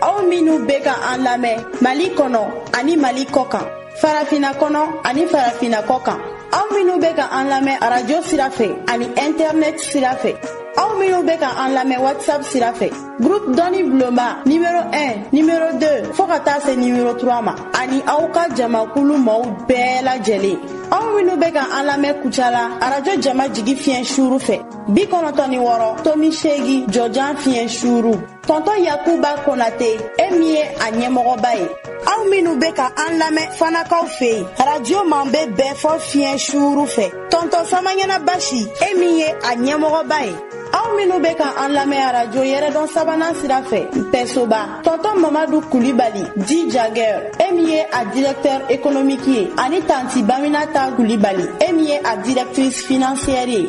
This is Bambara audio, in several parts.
aw minnu bɛ ka an lamɛn mali kɔnɔ ani mali kɔ kan farafina kɔnɔ ani farafina kɔ kan aw minnu bɛ ka an lamɛn arajo sira fɛ ani ɛntɛrinɛti sira fɛ aw minnu bɛ ka an lamɛn whatsapp sira fɛ groupe dɔnni bulonba nimero 1 nimero 2 fɔɔ ka taa se nimero 3 ma ani aw ka jamakulu mɔɔw bɛɛ lajɛlen aw minnu bɛ ka an lamɛn kucala arajo jama jigi fiɲɛ suuru fɛ bi kɔnɔtɔ ni wɔɔrɔ tomi seegi jɔjan fiɲɛ suuru tɔntɔn yakuba konate e min ye a ɲɛmɔgɔba ye aw minnu bɛ ka an lamɛn fanakaw fɛ yen radio man bɛ bɛɛ fɔ fiɲɛ suuru fɛ tɔntɔn samaɲana basi e min ye a ɲɛmɔgɔba ye aw minnu bɛ ka an lamɛn arajo yɛrɛdɔn sabanan sira fɛ npɛsoba tɔntɔn mamadu kulibali dit jagɛr e min ye a directeur économique ye ani tanti baminata kulibali e min ye a directrice financière ye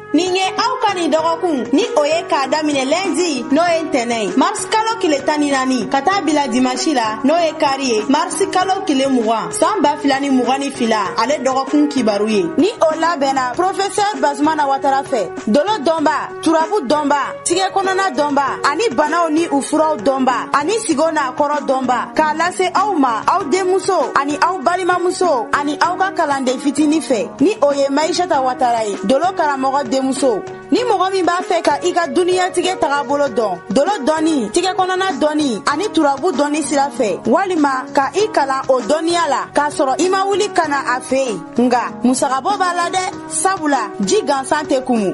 nin ye aw ka nin dɔgɔkun ni o ye k'a daminɛ lɛndi n'o ye ntɛnɛn ye marisi kalo tile tan ni naani ka taa bila dimansi la n'o ye kari ye marisi kalo tile mugan saan ba fila ni mugan ni fila ale dɔgɔkun kibaru ye ni o labɛnna porofesɛr bazumana watara fɛ dolo dɔnba turabu dɔnba tigɛ kɔnɔna dɔnba ani banaw ni u furaw dɔnba ani sigo n'a kɔrɔ dɔnba k'a lase aw ma aw denmuso ani aw balimamuso ani aw ka kalanden fitini fɛ ni o ye maishata watara ye dolo karamɔgɔ denmuso ni mɔgɔ min b'a fɛ ka i ka duniyatigɛ taga bolo dɔn dolo dɔnni tigɛ kɔnɔna dɔnni ani turabu dɔnni sira fɛ walima ka i kalan o dɔnniya la k'a sɔrɔ i ma wuli ka na a fɛ yen nka musagabɔ b'a la dɛ sabula ji gansan tɛ kumu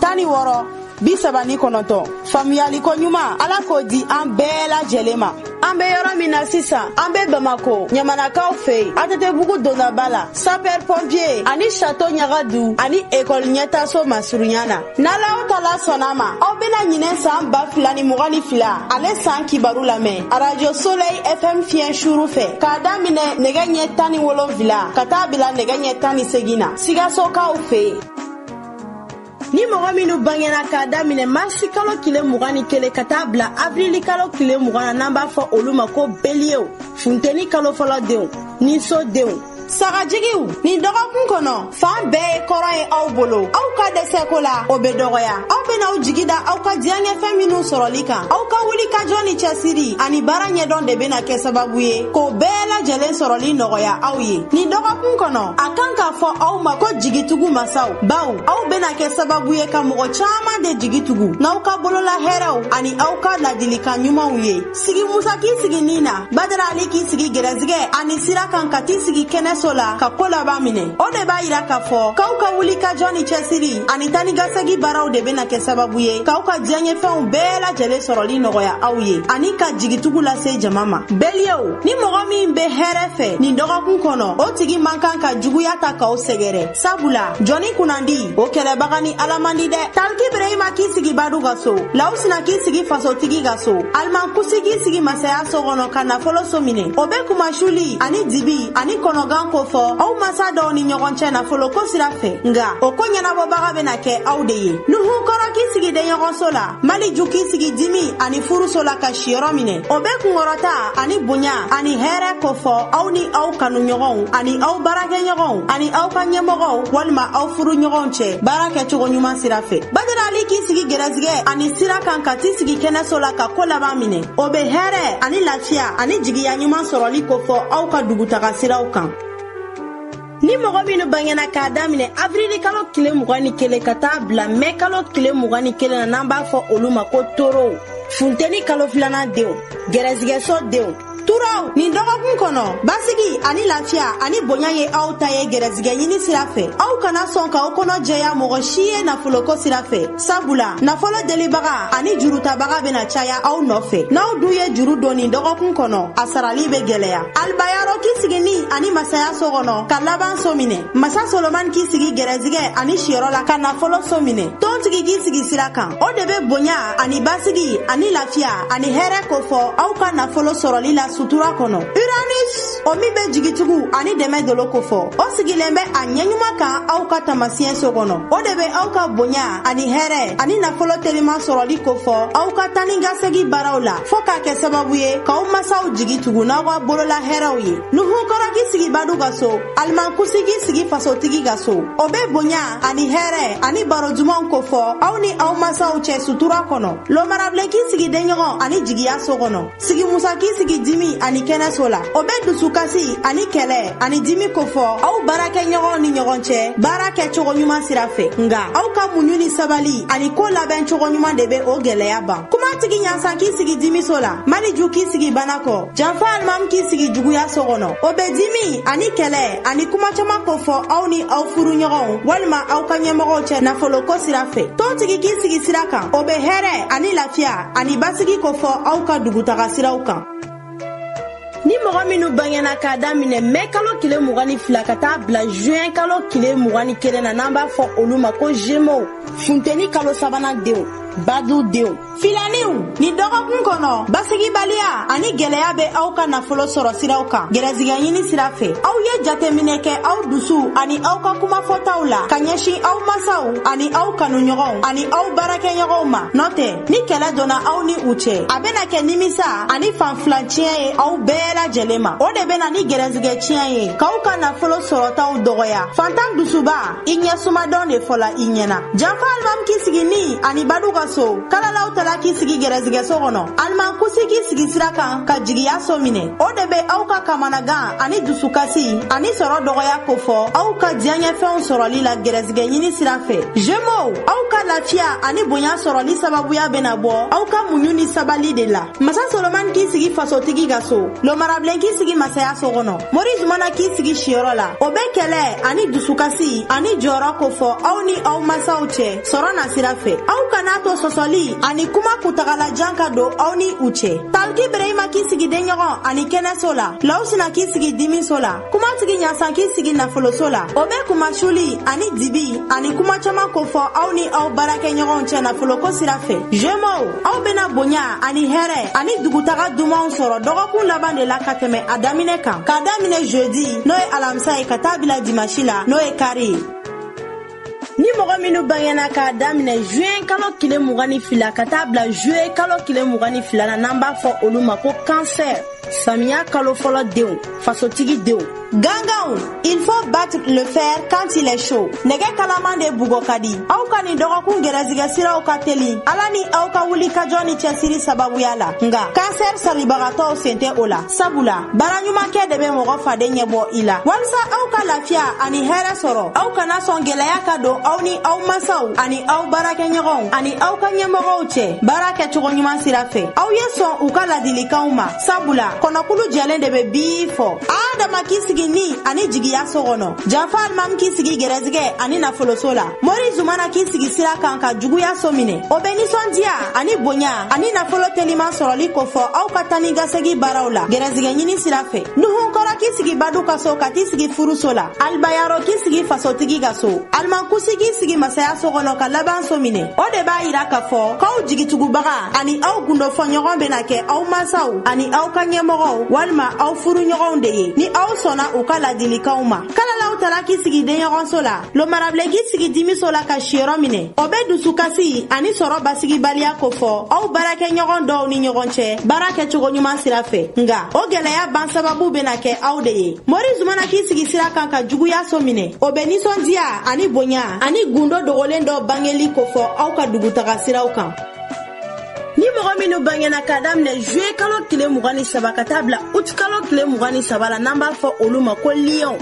tan ni wɔɔrɔ bi saba ni kɔnɔntɔn faamuyali koɲuman ala k'o di an bɛɛ lajɛlen ma an be yɔrɔ min na sisan an be bamako ɲamanakaw fɛ yen atɛtɛbugu dondaba la sapɛr pɔnpiye ani sato ɲaga du ani ekɔli ɲɛtaso masurunya na n'alahu taala sɔnna a ma aw bena ɲinan saan ba fila ni mugan ni fila ale saan kibaru lamɛn arajo solɛy fm fiɲɛ suru fɛ k'a daminɛ nɛgɛ ɲɛ tan ni wolonfila ka taa bila nɛgɛ ɲɛ tan ni segin na sikasokaw fɛ yen ni mɔgɔ minnu bangera k'a daminɛ marisi kalo tile mugan ni kelen ka taa bila avrili kalo tile mugan na n'an b'a fɔ olu ma ko beliyew funteni kalo fɔlɔ denw ni so denw sagajigiw nin dɔgɔkun kɔnɔ fan bɛɛ ye kɔrɔ ye aw bolo aw ka dɛsɛko la o be dɔgɔya aw bena aw jigi da aw ka diyanyefɛn minw sɔrɔli kan aw ka wulikajɔ ni cɛsiri ani baara ɲɛdɔn de bena kɛ sababu ye k'o bɛɛ lajɛlen sɔrɔli nɔgɔya aw ye nin dɔgɔkun kɔnɔ a kan k'a fɔ aw ma ko jigitugu masaw bawo aw bena kɛ sababu ye ka mɔgɔ caaman de jigi tugu n'aw ka bolola hɛrɛw ani aw ka ladilikan ɲumanw ye sigi musa k'i sigi nii na badara ali k'i sigi gɛrɛsigɛ ani sira kan ka t'i sigi kɛnɛso la ka koo laban minɛ o de b'a yira k'a fɔ k'aw ka wuli ka jɔ ni cɛsiri ani taa ni ka segi baaraw de bɛna kɛ sababu ye k'aw ka diyaɲɛfɛnw bɛɛ lajɛlen sɔrɔli nɔgɔya aw ye ani ka jigitugu lase jama ma bɛliyew ni mɔgɔ min bɛ hɛrɛ fɛ nin dɔgɔkun kɔnɔ o tigi man kan ka juguya ta k'aw sɛgɛrɛ sabula jɔni kunnandi o kɛlɛbaga ni ala man di dɛ taliki burahima k'i sigi badu ka so lawusina k'i sigi fasotigi ka so alimankusi k'i sigi masaya so kɔnɔ ka nafolo so minɛ o bɛ kunmasuli ani dibi ani kɔnɔgan kofɔ aw masa dɔw ni ɲɔgɔn cɛ nafoloko sira fɛ nga o ko ɲɛnabɔbaga bena kɛ aw de ye nuhun kɔrɔ k'i sigi denɲɔgɔnso la maliju k'i sigi dimi ani furuso la ka siyɔrɔ minɛ o be kungɔrɔta ani bonya ani hɛɛrɛ kofɔ aw ni aw kanu ɲɔgɔnw ani aw baarakɛ ɲɔgɔnw ani aw ka ɲɛmɔgɔw walima aw furu ɲɔgɔnw cɛ baara kɛ cogo ɲuman sira fɛ badarali k'i sigi gɛrɛsigɛ ani sira kan ka t'i sigi kɛnɛso la ka ko laban minɛ o bɛ hɛrɛ ani lafiya ani jigiya ɲuman sɔrɔli kofɔ aw ka dugutaga siraw kan ni mɔgɔ minnu bangena k'a daminɛ avrili kalo tile mugan ni kelen ka taa bila mɛ kalo tile mugan ni kelen na n'an b'a fɔ olu ma ko torow funteni kalo filanan denw gɛrɛsigɛso denw turaw nin dɔgɔkun kɔnɔ basigi ani lafiya ani bonya ye aw ta ye gɛrɛsigɛ ɲini sira fɛ aw kana sɔn k'aw kɔnɔ jɛya mɔgɔ si ye nafoloko sira fɛ sabula nafolo delibaga ani jurutabaga bena caya aw nɔfɛ n'aw dun ye juru don nin dɔgɔkun kɔnɔ a sarali be gwɛlɛya alibayaro k'i sigi ni ani masaya so kɔnɔ ka laban so minɛ masa solomani k'i sigi gɛrɛzigɛ ani siyɔrɔ la ka nafolo so minɛ tontigi k'i sigi sira kan o de be bonya ani basigi ani lafiya ani hɛrɛ kofɔ aw ka nafolo sɔrɔli la sutura kɔnɔ uranus o min bɛ jigitugu ani dɛmɛ dolo kofɔ o sigilen bɛ a ɲɛɲuman kan aw ka taamasiɲɛ so kɔnɔ o de bɛ aw ka bonya ani hɛrɛ ani nafolo teliman sɔrɔli kofɔ aw ka taa ni ka segi baaraw la fɔɔ k'a kɛ sababu ye k'aw masaw jigi tugu n'aw ka bolola hɛrɛw ye nuhun kɔrɔ k'i sigi badu ka so alimankusi k'i sigi fasotigi ka so o bɛ bonya ani hɛrɛ ani baro dumanw kofɔ aw ni aw masaw cɛ sutura kɔnɔ lomara bilen k'i sigi denɲɔgɔn ani jigiya so kɔnɔ sigi musa k'i sigi dimi ani kɛnɛso la o bɛ dusukasi ani kɛlɛ ani dimi kofɔ aw baarakɛ ɲɔgɔnw ni ɲɔgɔn cɛ baara kɛ cogo ɲuman sira fɛ nga aw ka muɲu ni sabali ani ko labɛn cogo ɲuman de bɛ o gɛlɛya ban kuma tigi ɲansan k'i sigi dimiso la maliju k'i sigi bana kɔ janfa alimamu k'i sigi juguya so kɔnɔ o bɛ dimi ani kɛlɛ ani kuma caman kofɔ aw ni aw furu ɲɔgɔnw walima aw ka ɲɛmɔgɔw cɛ nafoloko sira fɛ tontigi k'i sigi sira kan o bɛ hɛrɛ ani lafiya ani basigi kofɔ aw ka dugutaga siraw kan ni mɔgɔ minnu bangena k'a daminɛ mɛ kalo kile mugan ni fila ka taa bila juin kalo kile mugan ni kelen na n'an b'a fɔ olu ma ko gémeaux funteni kalo sabanan denw badu denw filaniw nin dɔgɔkun kɔnɔ basigibaliya ani gwɛlɛya bɛ aw ka nafolo sɔrɔ siraw kan gɛrɛsigɛ ɲini sira fɛ aw ye jateminɛ kɛ aw dusu ani aw ka kumafɔtaw la ka ɲɛsin aw masaw ani aw kanuɲɔgɔnw ani aw baarakɛɲɔgɔnw ma n'o tɛ ni kɛlɛ donna aw ni u cɛ a bena kɛ nimisa ani fan fila tiɲɛ ye aw bɛɛ lajɛlen ma o de bɛ na ni gɛrɛsigɛ tiɲɛ ye k'aw ka nafolo sɔrɔtaw dɔgɔya fantan dusuba i ɲɛsumadɔn de fɔla i ɲɛna janfa alimami k'i sigi ni ani badu ka so kalalaw tala k'i sigi gɛrɛsigɛso kɔnɔ alimankusi k'i sigi sira kan ka jigiya so minɛ o de bɛ aw ka kamanagan ani dusukasi ani sɔrɔ dɔgɔya kofɔ aw ka diyaɲɛfɛnw sɔrɔli la gɛrɛsigɛ ɲini sira fɛ jemow aw ka lafiya ani bonya sɔrɔli sababuya bɛna bɔ aw ka muɲu ni sabali de la masa solomani k'i sigi fasotigi ka so lomara bilen k'i sigi masaya so kɔnɔ mori zumana k'i sigi siyɔrɔ la o bɛ kɛlɛ ani dusukasi ani jɔrɔ kofɔ aw ni aw masaw cɛ sɔrɔ nasira fɛ aw kan'a to sɔsɔli ani kuma kuntagalajan ka don aw ni u cɛ taliki bereyima k'i sigi denɲɔgɔn ani kɛnɛso la lawsina k'i sigi dimiso la kumatigi ɲasan k'i sigi nafoloso la o bɛ kunmasuli ani dibi ani kuma caaman kofɔ aw ni aw baarakɛɲɔgɔnw cɛ nafoloko sira fɛ jemow aw bena bonya ani hɛrɛ ani dugutaga dumanw sɔrɔ dɔgɔkun laban de la ka tɛmɛ a daminɛ kan k'a daminɛ jeudi n'o ye alamisa ye ka taa bila dimasi la n'o ye kari ye ni mɔgɔ minnu bangena k'a daminɛ juin kalo kile mugan ni fila ka taa bila juillet kalo kile mugan ni fila na n'an b'a fɔ olu ma ko kansɛr samiya kalo fɔlɔ denw fasotigi denw ganganw il faut battre le fer quand il est chaud nɛgɛ kalaman de bugɔ ka di aw ka nin dɔgɔkun gɛrɛsigɛ siraw ka teli ala ni aw ka wulikajɔ ni cɛsiri sababuya la nga kansɛr salabagatɔw sen tɛ o la sabula baara ɲuman kɛ de bɛ mɔgɔ faden ɲɛ bɔ i la walisa aw ka lafiya ani hɛrɛ sɔrɔ aw kana sɔn gɛlɛya ka don aw ni aw masaw ani aw baarakɛɲɔgɔnw ani aw ka ɲɛmɔgɔw cɛ baara kɛcogo ɲuman sira fɛ aw ye sɔn u ka ladilikanw ma sabula kɔnɔkulu jɛlen de bɛ bii fɔ adama k'i sigi ni ani jigiya so kɔnɔ janfa alimami k'i sigi gɛrɛsigɛ ani nafoloso la mori zumana k'i sigi sira kan ka juguya so minɛ o bɛ ninsɔndiya ani bonya ani nafolo teliman sɔrɔli kofɔ aw ka taanikasegin baaraw la gɛrɛsigɛ ɲini sira fɛ nuhun kɔrɔ k'i sigi badu ka so ka t'i sigi furuso la alibayaro k'i sigi fasotigi ka so alimankusi k'i sigi masaya so kɔnɔ ka laban so minɛ o de b'a yira k'a fɔ k'aw jigitugubaga ani aw gundofɔɲɔgɔn bena kɛ aw masaw ani aw ka ɲɛmɔgɔw walima aw furuɲɔgɔnw de ye ni aw sɔnna u ka ladilikanw ma kalalaw tara k'i sigi denɲɔgɔnso la lomarabilen k'i sigi dimiso la ka siyɔrɔ minɛ o bɛ dusukasi ani sɔrɔ basigibaliya kofɔ aw baarakɛɲɔgɔn dɔw ni ɲɔgɔn cɛ baara kɛcogo ɲuman sira fɛ nga o gwɛlɛya ban sababu bena kɛ aw de ye mori zumana k'i sigi sira kan ka juguya so minɛ o bɛ ninsɔndiya ani bonya ani gundo dogolen dɔ bangeli kofɔ aw ka dugutaga siraw kan ni mɔgɔ minnu bangena ka daminɛ juye kalo tile mugan ni saba ka taa bila ut kalo tile mugan ni saba la n'an b'a fɔ olu ma ko liyɔnw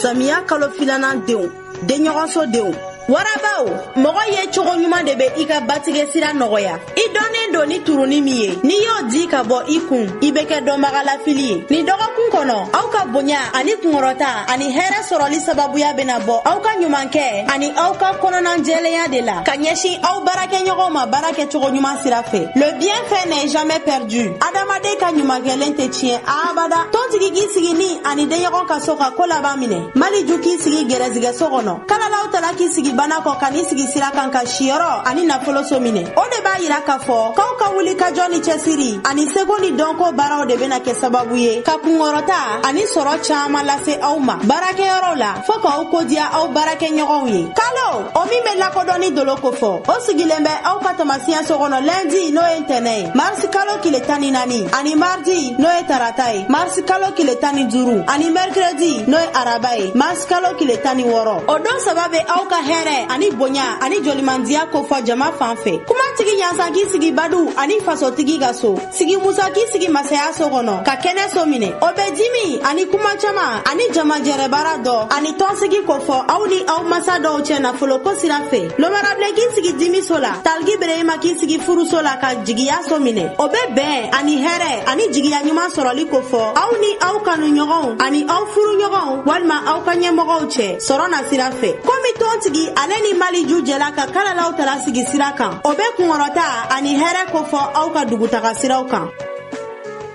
samiya kalo filanan denw denɲɔgɔnso denw warabaw mɔgɔ ye cogo ɲuman de bɛ i ka batigɛ sira nɔgɔya i dɔnnen don ni turuni min ye n'i y'o di ka bɔ i kun i bɛ kɛ dɔnbaga lafili ye nin dɔgɔkun kɔnɔ aw ka bonya ani kungɔrɔta ani hɛrɛ sɔrɔli sababuya bɛna bɔ aw ka ɲumankɛ ani aw ka kɔnɔnajɛlenya de la ka ɲɛsin aw baara kɛ ɲɔgɔn ma baara kɛ cogo ɲuman sira fɛ le bien fait n'est jamais perdu adamaden ka ɲumankɛlen tɛ tiɲɛ abada tontigi k'i sigi ni ani denɲɔgɔn ka so ka ko laban minɛ mali ju k'i sigi gɛrɛsigɛ so kɔnɔ kalalaw tala k'i sigi bana kɔ ka n'i sigi sira kan ka siyɔrɔ ani nafolo so minɛ o de b'a yira k'a fɔ k'aw ka wulikajɔ ni cɛsiri ani seko ni dɔnko baaraw de bɛna kɛ sababu ye ka kunkɔrɔta ani sɔrɔ caman lase aw ma baarakɛyɔrɔw la fɔɔ k'aw ko diya aw baarakɛ ɲɔgɔnw ye kalo o min bɛ lakodɔnni dolo kofɔ o sigilen bɛ aw ka taamasiyɛn so kɔnɔ lɛndi n'o ye ntɛnɛn ye marisi kalo tile tan ni naani ani maridi n'o ye tarata ye marisi kalo tile tan ni duuru ani mɛrikiredi n'o ye araba ye marisi kalo tile tan ni wɔɔrɔ o don saba bɛ aw ka hɛrɛ ani bonya ani jolimandiya kofɔ jama fan fɛ kumatigi ɲasan k'i sigi badu ani fasotigi ka so sigi musa k'i sigi masaya so kɔnɔ ka kɛnɛ so minɛ o bɛ dimi ani kuma caman ani jamajɛrɛbaara dɔ ani tɔnsigi kofɔ aw ni aw masa dɔw cɛ nafolo ko sira fɛ lomarabilen k'i sigi dimi so la taliki bereyima k'i sigi furuso la ka jigiya so minɛ o bɛ bɛn ani hɛrɛ ani jigiya ɲuman sɔrɔli kofɔ aw ni aw kanu ɲɔgɔnw ani aw furu ɲɔgɔnw walima aw ka ɲɛmɔgɔw cɛ sɔrɔ na sira fɛ komi tɔntigi ale ni mali ju jɛla ka kalalaw tara sigi sira kan o bɛ kunkɔrɔta ani hɛrɛ kofɔ aw ka dugutaga siraw kan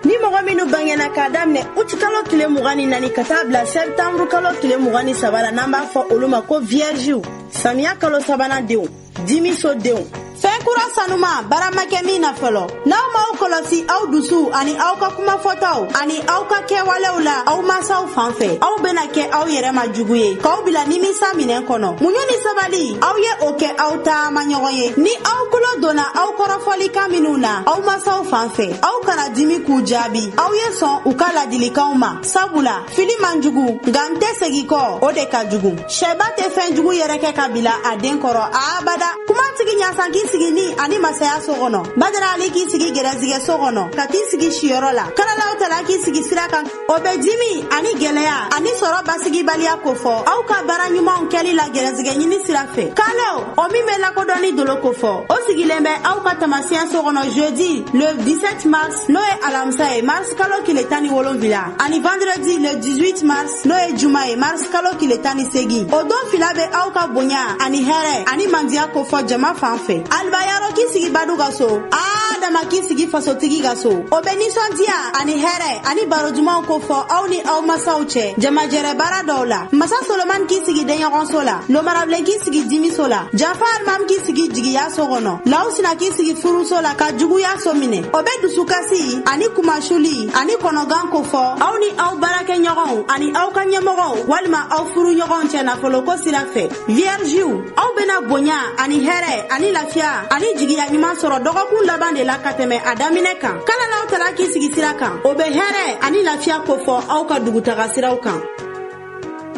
ni mɔgɔ minnu bangena k'a daminɛ ut kalo tile mugan ni naani ka taa bila sɛpitanburu kalo tile mugan ni saba la n'an b'a fɔ olu ma ko viyɛrisiw samiya kalo sabanan denw dimiso denw fɛn kura sanuman baara ma kɛ min na fɔlɔ n'aw m'aw kɔlɔsi aw dusu ani aw ka kuma fɔtaw ani aw ka kɛwalew la aw masaw fan fɛ aw bena kɛ aw yɛrɛ ma jugu ye k'aw bila nimisa minɛn kɔnɔ muɲu ni sabali aw ye o kɛ aw ta amaɲɔgɔn ye ni aw tulo donna aw kɔrɔfɔlikan minnu na aw masaw fan fɛ aw kana dimi k'u jaabi aw ye sɔn u ka ladilikanw ma sabula fili man jugu nka n tɛ segi kɔ o de ka jugu syɛba tɛ fɛn jugu yɛrɛkɛ ka bila a den kɔrɔ abada kumatigi ɲasan k'i sigi ni ani masaya so kɔnɔ badara ali k'i sigi gɛrɛsigɛ so kɔnɔ ka t'i sigi siyɔrɔ la kalalaw tala k'i sigi sira kan o bɛ dimi ani gɛlɛya ani sɔrɔ basigibaliya kofɔ aw ka baara ɲumanw kɛli la gɛrɛsigɛ ɲini sira fɛ kalo o min bɛ lakodɔnni dolo kofɔ o sigilen bɛ aw ka tamasiɲɛ so kɔnɔ jeudi le 17 mars n'o ye alamisa ye mars kalo kile tan ni wolonwula ani vendredi le 18 mars n'o ye juma ye mars kalo tile tan ni segin o don fila bɛ aw ka bonya ani hɛrɛ ani mandiya kofɔ jama fan fɛ alibayaro k'i sigi badu ka so adama k'i sigi fasotigi ka so o bɛ nisɔndiya ani hɛrɛ ani baro dumanw kofɔ aw ni aw masaw cɛ jamajɛrɛ baara dɔw la masa solomani k'i sigi denɲɔgɔnso la lomarabilen k'i sigi dimiso la janfa alimami k'i sigi jigiya so kɔnɔ lawusina k'i sigi furuso la ka juguya so minɛ o bɛ dusukasi ani kunmasuli ani kɔnɔgan kofɔ aw ni aw baarakɛɲɔgɔnw ani aw ka ɲɛmɔgɔw walima aw furuɲɔgɔnw cɛ nafoloko sira fɛ viyɛriziw aw bena bonya ani hɛrɛ ani lafiya ani jigiya ɲuman sɔrɔ dɔgɔkun laban de la ka tɛmɛ a daminɛ kan kalalaw tala k'i sigi sira kan o be hɛrɛ ani lafiya kofɔ aw ka dugutaga siraw kan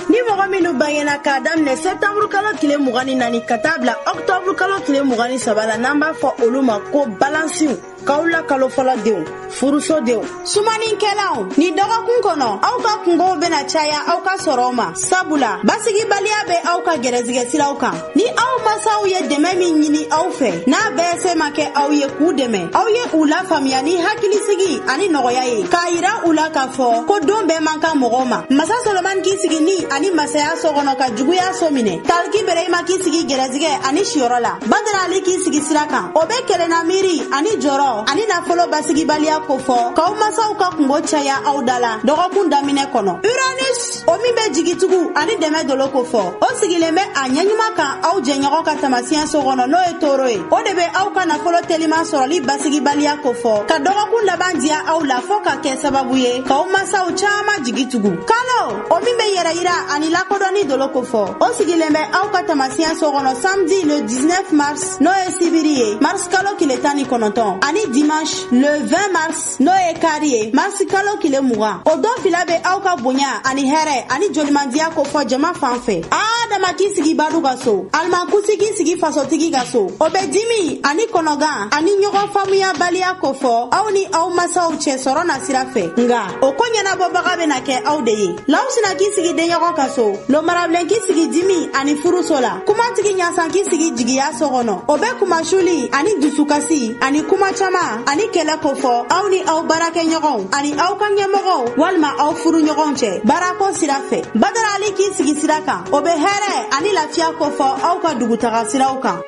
ni mɔgɔ minnu bangena k'a daminɛ sɛtanburu kalo tile mugan ni naani ka taa bila ɔktɔburu kalo tile mugan ni saba la n'an b'a fɔ olu ma ko balansiw kawula kalo fɔlɔ denw furuso denw sumaninkɛlaw nin dɔgɔkun kɔnɔ aw ka kungow bena caya aw ka sɔrɔw ma sabula basigibaliya bɛ aw ka gɛrɛsigɛ siraw kan ni aw masaw ye dɛmɛ min ɲini aw fɛ n'a bɛɛ se ma kɛ aw ye k'u dɛmɛ aw ye u lafaamuya ni hakilisigi ani nɔgɔya ye k'a yira u la k'a fɔ ko don bɛɛ man kan mɔgɔw ma masa solomani k'i sigi ni ani masaya so kɔnɔ ka juguya so minɛ Taliki Bereyima k'i sigi gɛrɛsigɛ ani siyɔrɔ la Badara Ali k'i sigi sira kan o bɛ kelenna miiri ani jɔrɔ ani nafolo basigibaliya kofɔ k'aw masaw ka kungo caya aw da la dɔgɔkun daminɛ kɔnɔ Uranus o min bɛ jigitugu ani dɛmɛ dolo kofɔ o sigilen bɛ a ɲɛɲuman kan aw jɛɲɔgɔn ka tamasiɲɛ so kɔnɔ n'o ye toro ye o de bɛ aw ka nafolo teliman sɔrɔli basigibaliya kofɔ ka dɔgɔkun laban diya aw la fɔ ka kɛ sababu ye k'aw masaw caman jigi tugu kalo o min bɛ yɛrɛyira ani lakodɔnni dolo kofɔ o sigilen bɛ aw ka tamasiɲɛ so kɔnɔ samedi le 19 mars n'o ye sibiri ye mars kalo kile tan ni kɔnɔntɔn ani dimanche le 20 mars n'o ye kari ye mars kalo kile mugan o don fila bɛ aw ka bonya ani hɛrɛ ani jolimandiya kofɔ jama fan fɛ adama k'i sigi badu ka so alimankusi k'i sigi fasotigi ka so o bɛ dimi ani kɔnɔgan ani ɲɔgɔn faamuyabaliya kofɔ aw ni aw masaw cɛ sɔrɔ nasira fɛ nka o ko ɲɛnabɔbaga bena kɛ aw de ye lawusina k'i sigi denɲɔgɔn ka so lomarabilen k'i sigi dimi ani furuso la kumatigi ɲasan k'i sigi jigiya so kɔnɔ o bɛ kunmasuli ani dusukasi ani kuma caaman ani kɛlɛ kofɔ aw ni aw baarakɛɲɔgɔnw ani aw ka ɲɛmɔgɔw walima aw furuɲɔgɔnw cɛ baarako sira fɛ badarali k'i sigi sira kan o bɛ hɛrɛ ani lafiya kofɔ aw ka dugutaga siraw kan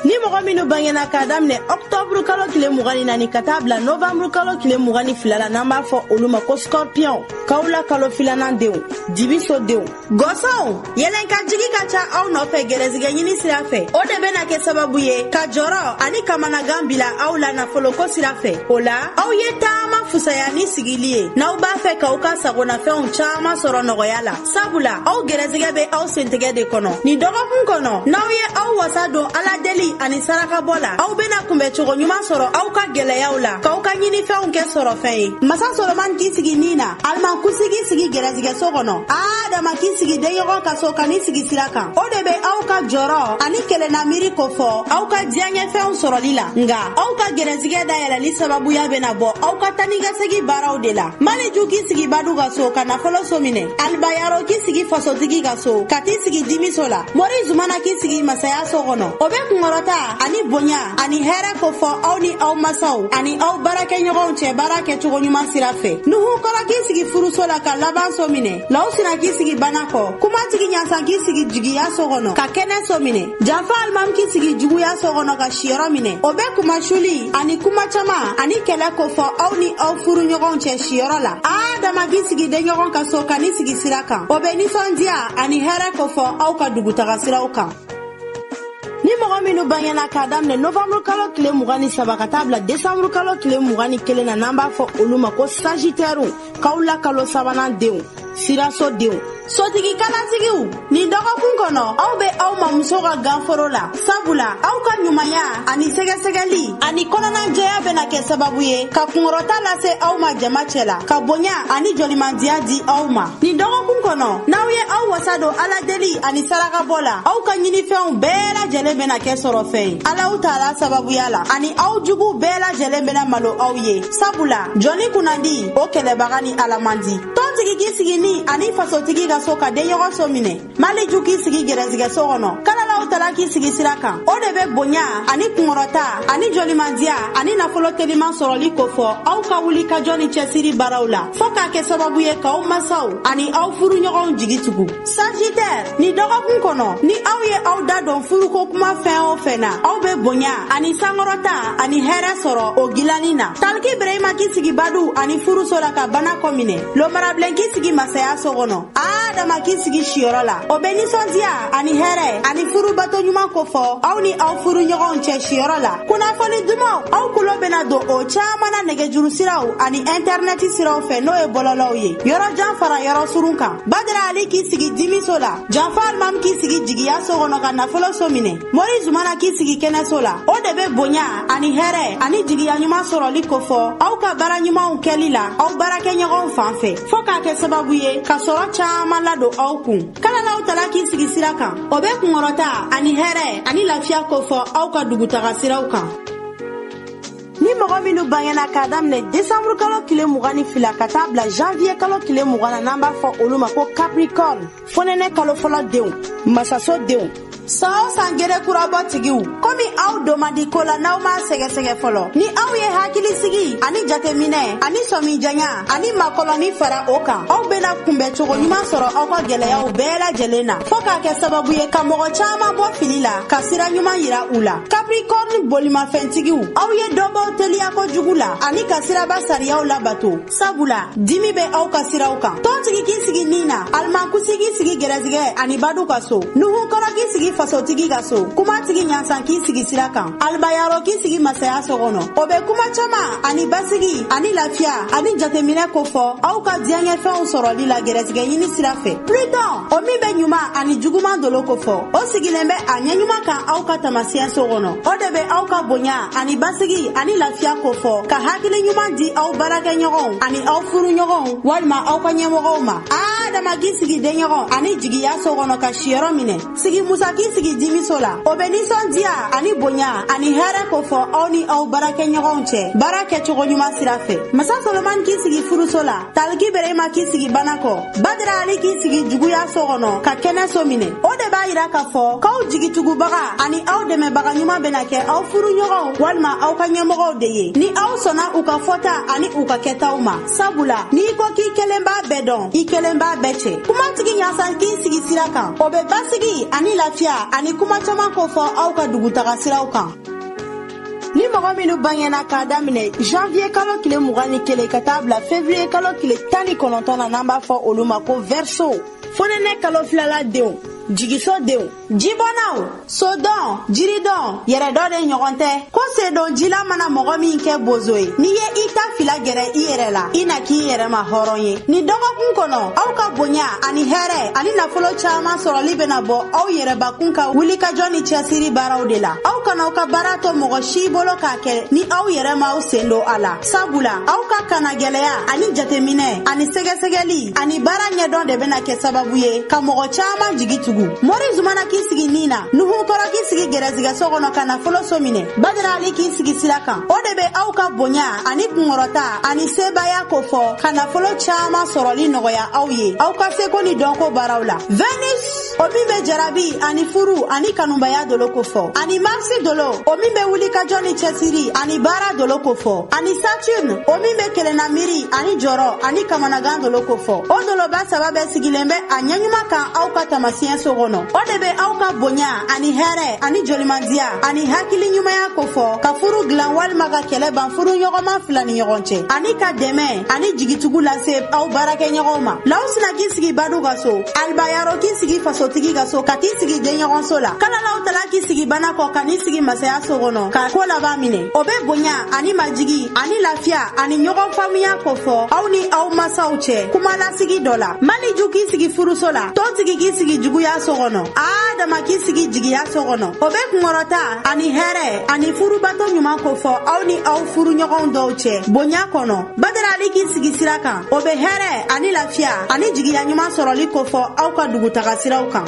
ni mɔgɔ minnu bangena k'a daminɛ ɔktɔburu kalo tile mugan ni naani ka taa bila novanburu kalo tile mugan ni fila la n'an b'a fɔ olu ma ko skɔrpiyɔn kawula kalo filanan denw dibiso denw gɔsɔnw yɛlɛn ka jigi ka ca aw nɔfɛ gɛrɛsigɛ ɲini sira fɛ o de bena kɛ sababu ye ka jɔrɔ ani kamanagan bila aw la nafoloko sira fɛ o la aw ye taama fusaya ni sigili ye n'aw b'a fɛ k'aw ka sagonafɛnw caaman sɔrɔ nɔgɔya la sabula aw gɛrɛsigɛ bɛ aw sentigɛ de kɔnɔ nin dɔgɔkun kɔnɔ n'aw ye aw wasa don ala deli ani sarakabɔ la aw bena kunbɛ cogo ɲuman sɔrɔ aw ka gɛlɛyaw la k'aw ka ɲinifɛnw kɛ sɔrɔfɛn ye masa soloman k'i sigi nin na alimankusi k'i sigi gɛrɛsigɛso kɔnɔ adama k'i sigi denɲɔgɔn ka so ka n'i sigi sira kan o de be aw ka jɔrɔ ani kelenna miiri kofɔ aw ka diyaɲɛfɛnw sɔrɔli la nga aw ka gɛrɛsigɛ dayɛlɛli sababuya bena bɔ aw ka taa ni ka segi baaraw de la maliju k'i sigi badu ka so ka nafolo so minɛ alibayaro k'i sigi fasotigi ka so ka t'i sigi dimiso la mori zumana k'i sigi masaya so kɔnɔ o be kungɔrɔta ani bonya ani hɛrɛ kofɔ aw ni aw masaw ani aw baarakɛɲɔgɔnw cɛ baara kɛ cogo ɲuman sira fɛ nuhu kɔrɔ k'i sigi furuso la ka laban so minɛ lawsina k'i sigi bana kɔ kuma tigi ɲasan k'i sigi jigiya so kɔnɔ ka kɛnɛ so minɛ janfa alimami k'i sigi juguya so kɔnɔ ka siyɔrɔ minɛ o bɛ kumasuli ani kuma caman ani kɛlɛ kofɔ aw ni aw furu ɲɔgɔnw cɛ siyɔrɔ la adama k'i sigi denɲɔgɔn ka so ka n'i sigi sira kan o bɛ nisɔndiya ani hɛrɛ kofɔ aw ka dugutaga siraw kan ni mɔgɔ minnu bangena k'a daminɛ novanburu kalo tile mugan ni saba ka taa bila desanburu kalo tile mugan ni kelen na n'an b'a fɔ olu ma ko sajitɛriw kawula kalo sabanan denw siraso denw sotigi kalatigiw nin dɔgɔkun kɔnɔ aw bɛ aw mamuso ka ganforo la sabula aw ka ɲumanya ani sɛgɛsɛgɛli ani kɔnɔnajɛya bɛna kɛ sababu ye ka kungɔrɔta lase aw ma jama cɛ la ka bonya ani jɔlimandiya di aw ma nin dɔgɔkun kɔnɔ n'aw ye aw wasa don ala deli ani sarakabɔ la aw ka ɲinifɛnw bɛɛ lajɛlen bɛna kɛ sɔrɔfɛn ye alaw taala sababuya la ani aw juguw bɛɛ lajɛlen bɛna malo aw ye sabula jɔnni kunnandi o kɛlɛbaga ni ala man di tɔntigi k'i sigi ni ani fasotigi ka so ka denɲɔgɔn so minɛ maliju k'i sigi gɛrɛsigɛso kɔnɔ kalalaw tala k'i sigi sira kan o de bɛ bonya ani kungɔrɔta ani jɔlimandiya ani nafolo teliman sɔrɔli kofɔ aw ka wuli ka jɔ ni cɛsiri baaraw la fɔɔ k'a kɛ sababu ye k'aw masaw ani aw furuɲɔgɔnw jigi tugu sajitɛri nin dɔgɔkun kɔnɔ ni aw ye aw da don furuko kuma fɛn o fɛn na aw bɛ bonya ani sankɔrɔta ani hɛrɛ sɔrɔ o gilanni na taliki birahima k'i sigi badu ani furuso la ka bana kɔ minɛ lomara bilen k'i sigi masaya so kɔnɔ adama k'i sigi siyɔrɔ la o bɛ nisɔndiya ani hɛrɛ ani furu bato ɲuman kofɔ aw ni aw furu ɲɔgɔnw cɛ siyɔrɔ la kunnafoni dumanw aw tulo bɛna don o caman na nɛgɛjuru siraw ani ɛntɛrinɛti siraw fɛ n'o ye bɔlɔlɔw ye yɔrɔ jan fara yɔrɔ surun kan badara ali k'i sigi dimiso la janfa alimamu k'i sigi jigiya so kɔnɔ ka nafolo so minɛ mori zumana k'i sigi kɛnɛso la o de bɛ bonya ani hɛrɛ ani jigiya ɲuman sɔrɔli kofɔ aw ka baara ɲumanw kɛli la aw baarakɛɲɔgɔnw fan fɛ fɔɔ k'a kɛ sababu ye ka sɔrɔ caaman ladon aw kun kalalaw tala k'i sigi sira kan o bɛ kungɔrɔta ani hɛrɛ ani lafiya kofɔ aw ka dugutaga siraw kan ni mɔgɔ minnu bangena k'a daminɛ desanburu kalo tile mugan ni fila ka taa bila janviye kalo tile mugan na n'an b'a fɔ olu ma ko capricorn fonɛnɛ kalo fɔlɔ denw masaso denw san o san gere kura bɔ tigiw komi aw don man di ko la n'aw m'a sɛgɛsɛgɛ fɔlɔ ni aw ye hakilisigi ani jateminɛ ani sɔmijanya ani makɔlɔni fara o kan aw bena kunbɛ cogo ɲuman sɔrɔ aw ka gwɛlɛyaw bɛɛ lajɛlen na fɔɔ k'a kɛ sababu ye ka mɔgɔ caaman bɔ fili la ka sira ɲuman yira u la Capricorne bolimafɛntigiw aw ye dɔ bɔ teliya kojugu la ani ka siraba sariyaw labato sabula dimi bɛ aw ka siraw kan tɔntigi k'i sigi ni na alimankusi k'i sigi gɛrɛsigɛ ani badu ka so nuhu kɔrɔ k'i sigi fasotigi ka so kumatigi ɲansan k'i sigi sira kan alibayaro k'i sigi masaya so kɔnɔ o bɛ kuma caman ani basigi ani lafiya ani jateminɛ kofɔ aw ka diyaɲɛfɛnw sɔrɔli la gɛrɛsigɛ ɲini sira fɛ pluton o min bɛ ɲuman ani juguman dolo kofɔ o sigilen bɛ a ɲɛɲuman kan aw ka tamasiyɛnso kɔnɔ o de bɛ aw ka bonya ani basigi ani lafiya kofɔ ka hakili ɲuman di aw baarakɛɲɔgɔnw ani aw furuɲɔgɔnw walima aw ka ɲɛmɔgɔw ma adama k'i sigi denɲɔgɔn ani jigiya so kɔnɔ ka siyɔrɔ minɛ sigi musa k'i sigi jimiso la o bɛ nisɔndiya ani bonya ani hɛrɛ kofɔ aw ni aw baarakɛɲɔgɔnw cɛ baara kɛcogo ɲuman sira fɛ masa solomani k'i sigi furuso la taliki berema k'i sigi bana kɔ badara ali k'i sigi juguya so kɔnɔ ka kɛnɛ so minɛ o de b'a yira k'a fɔ k'aw jigitugubaga ani aw dɛmɛbaga ɲuman bɛna kɛ aw furuɲɔgɔnw walima aw ka ɲɛmɔgɔw de ye ni aw sɔnna u ka fɔta ani u ka kɛtaw ma sabula n'i ko k'i kelen b'a bɛɛ dɔn i kelen b'a bɛɛ cɛn kumatigi ɲasan k'i sigi sira kan o bɛ basigi ani lafiya ani kuma caman kofɔ aw ka dugutaga siraw kan ni mɔgɔ minnu bangena k'a daminɛ janviye kalo tile mugan ni kelen ka taa bila fevriye kalo tile tan ni kɔnɔntɔn na n'an b'a fɔ olu ma ko verseau fonɛnɛ kalo filala denw jigiso denw jibɔnnaw sodɔn jiridɔn yɛrɛdɔn de ɲɔgɔn tɛ ko sen don ji la mana mɔgɔ min kɛ bozo ye n'i ye i ta fila gɛrɛ i yɛrɛ la i na k'i yɛrɛ ma hɔrɔn ye nin dɔgɔkun kɔnɔ aw ka bonya ani hɛrɛ ani nafolo caaman sɔrɔli bena bɔ aw yɛrɛbakun ka wulikajɔ ni cɛsiri baaraw de la aw kan'aw ka baara to mɔgɔ si bolo k'a kɛ ni aw yɛrɛ m'aw sen don a la sabula aw ka kanagɛlɛya ani jateminɛ ani sɛgɛsɛgɛli ani baara ɲɛdɔn de bena kɛ sababu ye ka mɔgɔ caaman jigi tugu mori zumana k'i sigi ni na nuhu kɔrɔ k'i sigi gɛrɛsigɛso kɔnɔ ka nafolo so minɛ badarali k'i sigi sira kan o de be aw ka bonya ani kungɔrɔta ani sebaaya kofɔ ka nafolo caaman sɔrɔli nɔgɔya aw ye aw ka seko ni dɔnko baaraw la venus o min bɛ jarabi ani furu ani kanubaya dolo kofɔ ani marisi dolo o min bɛ wulikajɔ ni cɛsiri ani baara dolo kofɔ ani saturne o min bɛ kelenna miiri ani jɔrɔ ani kamanagan dolo kofɔ o doloba saba bɛɛ sigilen bɛ a ɲɛɲuman kan aw ka tamasiɲɛ so kɔnɔ o de bɛ aw ka bonya ani hɛrɛ ani jolimandiya ani hakili ɲumanya kofɔ ka furu dilan walima ka kɛlɛ ban furuɲɔgɔnma fila ni ɲɔgɔn cɛ ani ka dɛmɛ ani jigitugu lase aw baarakɛɲɔgɔnw ma lawsina k'i sigi badu ka so alibayaro k'i sigi fasotigi ka so ka t'i sigi denɲɔgɔnso la kalalaw tala k'i sigi bana kɔ ka n'i sigi masaya so kɔnɔ ka ko laban minɛ o bɛ bonya ani majigi ani lafiya ani ɲɔgɔn faamuya kofɔ aw ni aw masaw cɛ kuma lasigi dɔ la maliju k'i sigi furuso la tontigi k'i sigi juguya so kɔnɔ adama k'i sigi jigiya so kɔnɔ o bɛ kunkɔrɔta ani hɛrɛ ani furubato ɲuman kofɔ aw ni aw furuɲɔgɔnw dɔw cɛ bonya kɔnɔ badarali k'i sigi sira kan o bɛ hɛrɛ ani lafiya ani jigiya ɲuman sɔrɔli kofɔ aw ka dugutaga siraw kan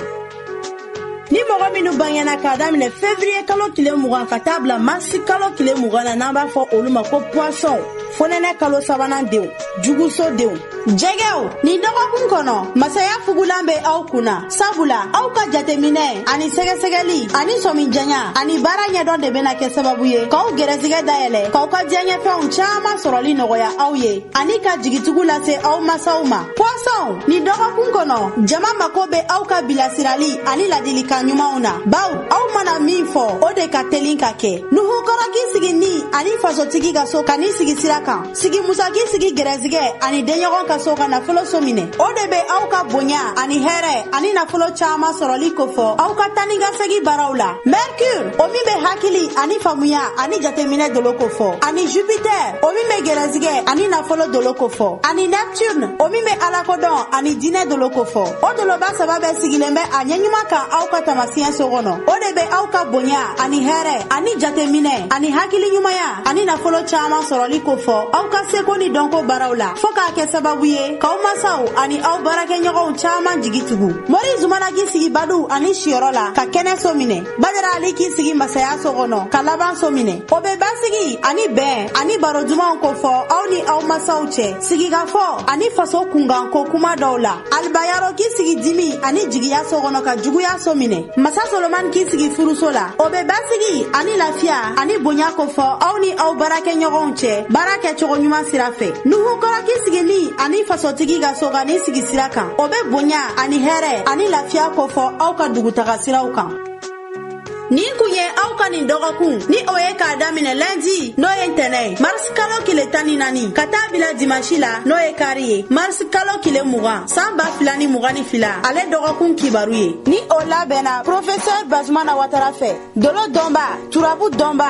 ni mɔgɔ minnu bangena k'a daminɛ fevriye kalo tile mugan ka taa bila marisi kalo tile mugan na n'an b'a fɔ olu ma ko poisson fonɛnɛ kalo sabanan denw juguso denw jɛgɛw nin dɔgɔkun kɔnɔ masaya fugulan bɛ aw kun na sabula aw ka jateminɛ ani sɛgɛsɛgɛli ani sɔmi janya ani baara ɲɛdɔn de bɛna kɛ sababu ye k'aw gɛrɛsigɛ dayɛlɛ k'aw ka diyaɲɛfɛnw caman sɔrɔli nɔgɔya aw ye ani ka jigitigu lase aw masaw ma poissonw nin dɔgɔkun kɔnɔ jama mako bɛ aw ka bilasirali ani ladilikan ɲumanw na baw aw mana min fɔ o de ka telin ka kɛ nuhu kɔrɔ k'i sigi ni ani fasotigi ka so ka n'i sigi sira kan sigi musa k'i sigi gɛrɛsigɛ ani denɲɔgɔn ka so ka nafolo so minɛ o de be aw ka bonya ani hɛrɛ ani nafolo caaman sɔrɔli kofɔ aw ka taa ni ka segi baaraw la merkure o min be hakili ani faamuya ani jateminɛ dolo kofɔ ani jupitɛr o min be gɛrɛsigɛ ani nafolo dolo kofɔ ani neptune o min be alakodɔn ani diinɛ dolo kofɔ o doloba saba bɛɛ sigilen bɛ a ɲɛɲuman kan aw ka tamasiɲɛ so kɔnɔ o de be aw ka bonya ani hɛrɛ ani jateminɛ ani hakili ɲumanya ani nafolo caaman sɔrɔli kofɔ aw ka seko ni dɔnko baaraw la fɔɔ k'a kɛ sababu ye k'aw masaw ani aw baarakɛɲɔgɔnw caaman jigi tugu mori zumana k'i sigi baduw ani siyɔrɔ la ka kɛnɛ so minɛ badara ali k'i sigi masaya so kɔnɔ ka laban so minɛ o be basigi ani bɛn ani baro dumanw kofɔ aw ni aw masaw cɛ sigikafɔ ani faso kunkanko kuma dɔw la alibayaro k'i sigi dimi ani jigiya so kɔnɔ ka juguya so minɛ masa solomani k'i sigi furuso la o bɛ basigi ani lafiya ani bonya kofɔ aw ni aw baarakɛɲɔgɔnw cɛ baara kɛcogo ɲuman sira fɛ nuhu kɔrɔ k'i sigi ni ani fasotigi ka so ka n'i sigi sira kan o bɛ bonya ani hɛrɛ ani lafiya kofɔ aw ka dugutaga siraw kan nin kun ye aw ka nin dɔgɔkun ni o ye k'a daminɛ lɛndi n'o ye ntɛnɛ ye marisi kalo kile tan ni naani ka taa bila dimansi la n'o ye kari ye marisi kalo kile mugan saan ba fila ni mugan ni fila ale dɔgɔkun kibaru ye ni o labɛnna profesɛr bazumana watara fɛ dolo dɔnba turabu dɔnba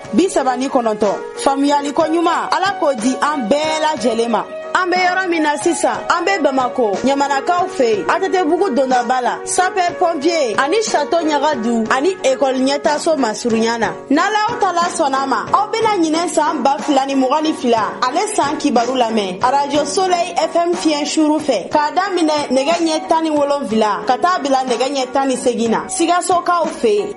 bi saba ni kɔnɔntɔn faamuyaliko ɲuman ala k'o di an bɛɛ lajɛlen ma an be yɔrɔ min na sisan an be bamako ɲamanakaw fɛ yen atetebugu dondaba la sapɛ pɔnpiye ani sato ɲagadu ani ekɔli ɲɛtaso masurunya na n'alaw tala sɔnn'a ma aw bena ɲinan saan ba fila ni mugan ni fila ale saan kibaru lamɛn arajo solɛy fm fiɲɛ suru fɛ k'a daminɛ nɛgɛ ɲɛ tan ni wolonfila ka taa bila nɛgɛ ɲɛ tan ni segin na sikasokaw fɛ yen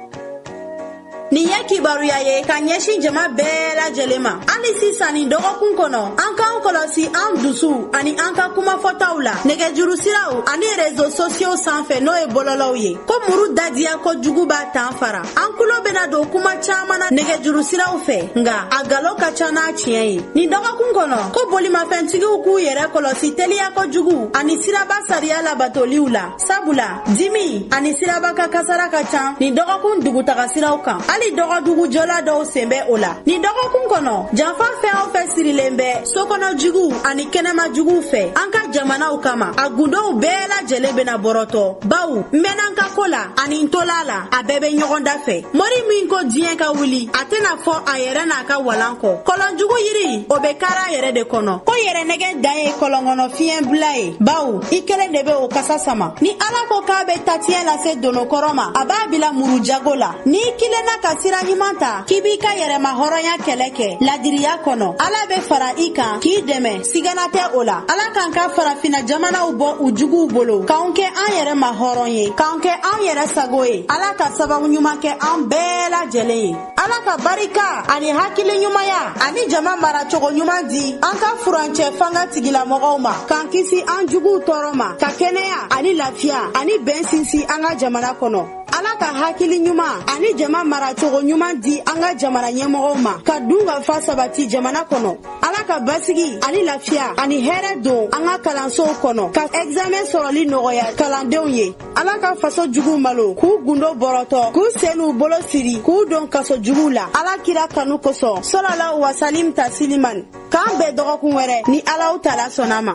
nin ye kibaruya ye ka ɲɛsin jama bɛɛ lajɛlen ma hali sisan nin dɔgɔkun kɔnɔ an k'an kɔlɔsi an dusu ani an ka kumafɔtaw la nɛgɛjuru siraw ani rezo sosiyow sanfɛ n'o ye bɔlɔlɔw ye ko muru dadiya kojugu b'a tan fara an kulo bena don kuma caaman na nɛgɛjuru siraw fɛ nga a galon ka ca n'a tiɲɛ ye nin dɔgɔkun kɔnɔ ko bolimafɛntigiw k'u yɛrɛ kɔlɔsi teliya kojugu ani siraba sariya labatoliw la sabula dimi ani siraba kan kasara ka ca nin dɔgɔkun dugutaga siraw kan hali dɔgɔdugu jɔla dɔw sen bɛ o la nin dɔgɔkun kɔnɔ janfa fɛn o fɛn sirilen bɛ sokɔnɔ juguw ani kɛnɛma juguw fɛ an ka jamanaw kama a gundow bɛɛ lajɛlen bena bɔrɔtɔ baw n mɛn'an ka ko la ani n tola la a bɛɛ bɛ ɲɔgɔn da fɛ mori min ko diɲɛ ka wuli a tɛna fɔ a yɛrɛ n'a ka walan kɔ kɔlɔnjugu yiri o bɛ kar'a yɛrɛ de kɔnɔ ko yɛrɛnɛgɛn dan ye kɔlɔnkɔnɔ fiɲɛ bila ye bawo i kelen de bɛ o kasa sama ni ala ko k'a bɛ tatiɲɛ lase donokɔrɔ ma a b'a bila muru jago la n'i kilenna ka sira ɲuman ta k'i b'i ka yɛrɛma hɔrɔnya kɛlɛ kɛ ladiriya kɔnɔ ala bɛ fara i kan k'i dɛmɛ sigana tɛ o la ala k'an ka farafina jamanaw bɔ u juguw bolo k'anw kɛ an yɛrɛma hɔrɔn ye k'anw kɛ anw yɛrɛ sago ye ala ka sababu ɲuman kɛ an bɛɛ lajɛlen ye ala ka barika ani hakili ɲumanya ani jama maracogo ɲuman di an ka furancɛ fanga tigilamɔgɔw ma k'an kisi an juguw tɔɔrɔ ma ka kɛnɛya ani lafiya ani bɛn sinsin an ka jamana kɔnɔ ala ka hakili ɲuman ani jama maracogo ɲuman di an ka jamana ɲɛmɔgɔw ma ka dunkafa sabati jamana kɔnɔ ala ka basigi ani lafiya ani hɛrɛ don an ka kalansow kɔnɔ ka ɛgizamɛn sɔrɔli nɔgɔya kalandenw ye ala ka faso juguw malo k'u gundo bɔrɔtɔ k'u sen n'u bolo siri k'u don kaso juguw la ala kira kanu kosɔn salalahu wasalim tasiliman k'an bɛn dɔgɔkun wɛrɛ ni alahu taala sɔnna a ma